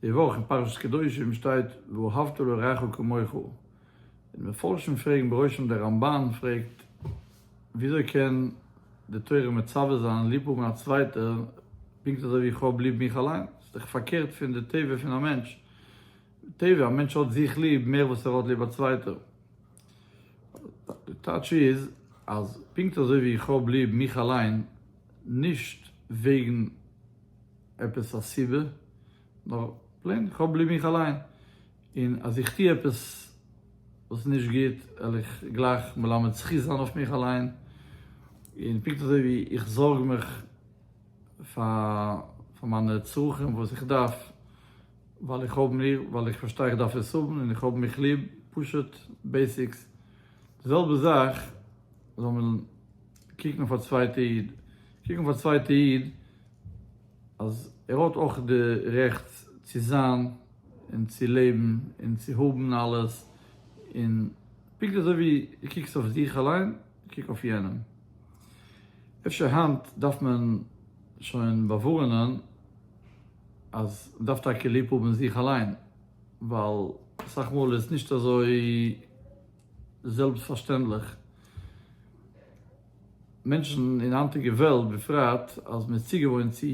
די וואך אין פרשת קדושים שטייט ואהבת לרעך כמוך, און מפרשים פרעגן בראשם דער רמבן פרעגט וויאזוי קען די תורה מצווה זיין ליב האבן א צווייטער פונקט אזוי ווי איך האב ליב מיך אליין, עס איז דאך פארקערט פון די טבע פון א מענטש, בטבע א מענטש האט זיך ליב מער וואס ער האט ליב א צווייטער, די טייטש איז אז פונקט אזוי ווי איך האב ליב מיך אליין נישט וועגן. עפעס א סיבה, נאר פלעין איך האב ליב מיך אליין, און אז איך טוה עפעס וואס נישט גוט על איך גלייך מלמד זכות זיין אויף מיך אליין, און פונקט אזוי ווי איך זארג מיך פאר מיינע צרכים וואס איך דארף ווייל איך האב מיר ווייל איך פארשטיי איך דארף עס האבן און איך האב מיך ליב, פשוט בעיסיקס, די זעלבע זאך זאל מען קוקן אויף א צווייטע איד, קוק אויף א צווייטע איד. אז ער האט אויך די רעכט צו זיין און צו לעבן און צו האבן אלעס, און פונקט אזוי ווי דו קוקסט אויף זיך אליין, קוק אויף יענעם. אפשר היינט דארף מען שוין באווארענען אז מען דארף טאקע ליב האבן זיך אליין, ווייל אסאך מאל איז עס נישט אזוי זעלבסט פארשטענדליך. מענטשן אין היינטיגע וועלט בפרט אז מ'איז צוגעוואוינט צו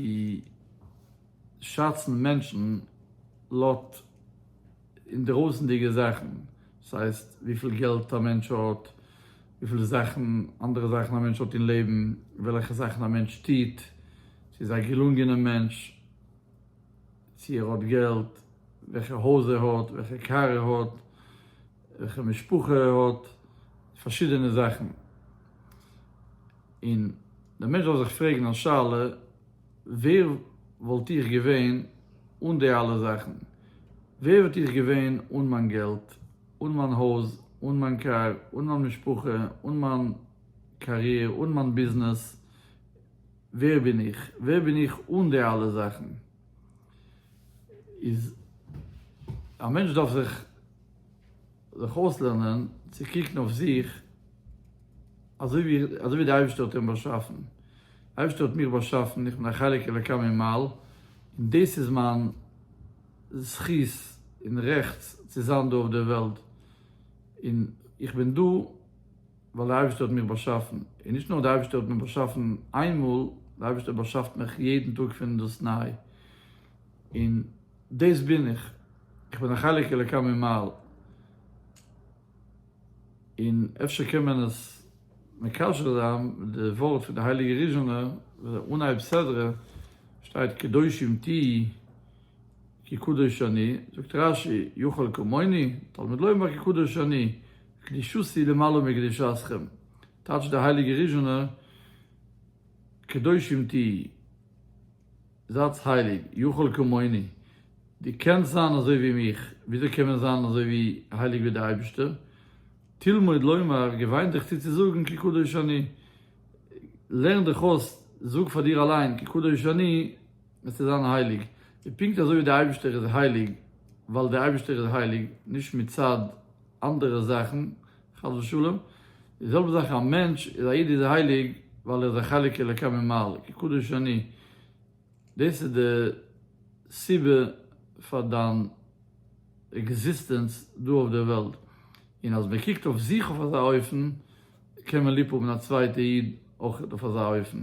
שאצן מענטשן לויט אינדערויסענדיגע זאכן, דאס הייסט וויפיל געלט א מענטש האט, וויפיל זאכן, אנדערע זאכן א מענטש האט אין לעבן, וועלכע זאכן א מענטש טוט, צו איז א געלונגענע מענטש, צו ער האט געלט, וועלכע הויז ער האט, וועלכע קאר ער האט, וועלכע משפחה האט פארשידענע זאכן, און דער מענטש זאל זיך פרעגן א שאלה, ווער וואלט איך געווען אן די אלע זאכן? ווער וואלט איך געווען אן מיין געלט, אן מיין הויז, אן מיין קאר, אן מיין משפחה, אן מיין קאריער, אן מיין ביזנעס? ווער בין איך? ווער בין איך אן די אלע זאכן? איז א מענטש דארף זיך. זיך אויסלערנען צו קוקן אויף זיך אזויווי די אייבערשטער האט אים באשאפן, די אייבערשטער האט מיך באשאפן, איך בין א חלק אלוקי ממעל, און דאס איז מיין זכות און רעכט צו זיין דא אויף דער וועלט, און איך בין דא ווייל די אייבערשטער האט מיך באשאפן, און נישט נאר די אייבערשטער האט מיך באשאפן איינמאל, די אייבערשטער באשאפט מיך יעדן טאג פון דאס ניי, און. דאס בין איך, איך בין א חלק אלוקי ממעל, און אפשר קען מען עס מקשר זיין מיט די ווארט פון די הייליגע ריזשינער וואס די אנהייב סדרה שטייט קדושים תהי' כי קדוש אני, זאגט רש י יכול כמוני תלמיד לומר כי קדוש אני, קדושתי למעלה מקדושתכם, טייטשט די הייליגע ריזשינער קדושים תהי'. זייטס הייליג, יכול כמוני, דו קענסט זיין אזוי ווי מיך, וויאזוי קען מען זיין אזוי ווי הייליג ווי די אייבערשטער, תלמוד לומר, געוויין דיך צו צו זאגן כי קדוש אני, לערן דיך אויס, זאג פאר דיר אליין כי קדוש אני, וועסטו זיין הייליג, און פונקט אזוי ווי די אייבערשטער איז הייליג ווייל די אייבערשטער איז הייליג, נישט מצד אנדערע זאכן, חס ושלום, די זעלבע זאך א מענטש איז א איד איז ער הייליג ווייל ער איז א חלק אלוקי ממעל כי קדוש אני, דאס איז די סיבה פאר דיין עקזיסטענץ דא אויף דער וועלט, און אז מען קוקט אויף זיך אויף אזא אופן קען מען ליב האבן א צווייטע איד אויך אויף אזא אופן.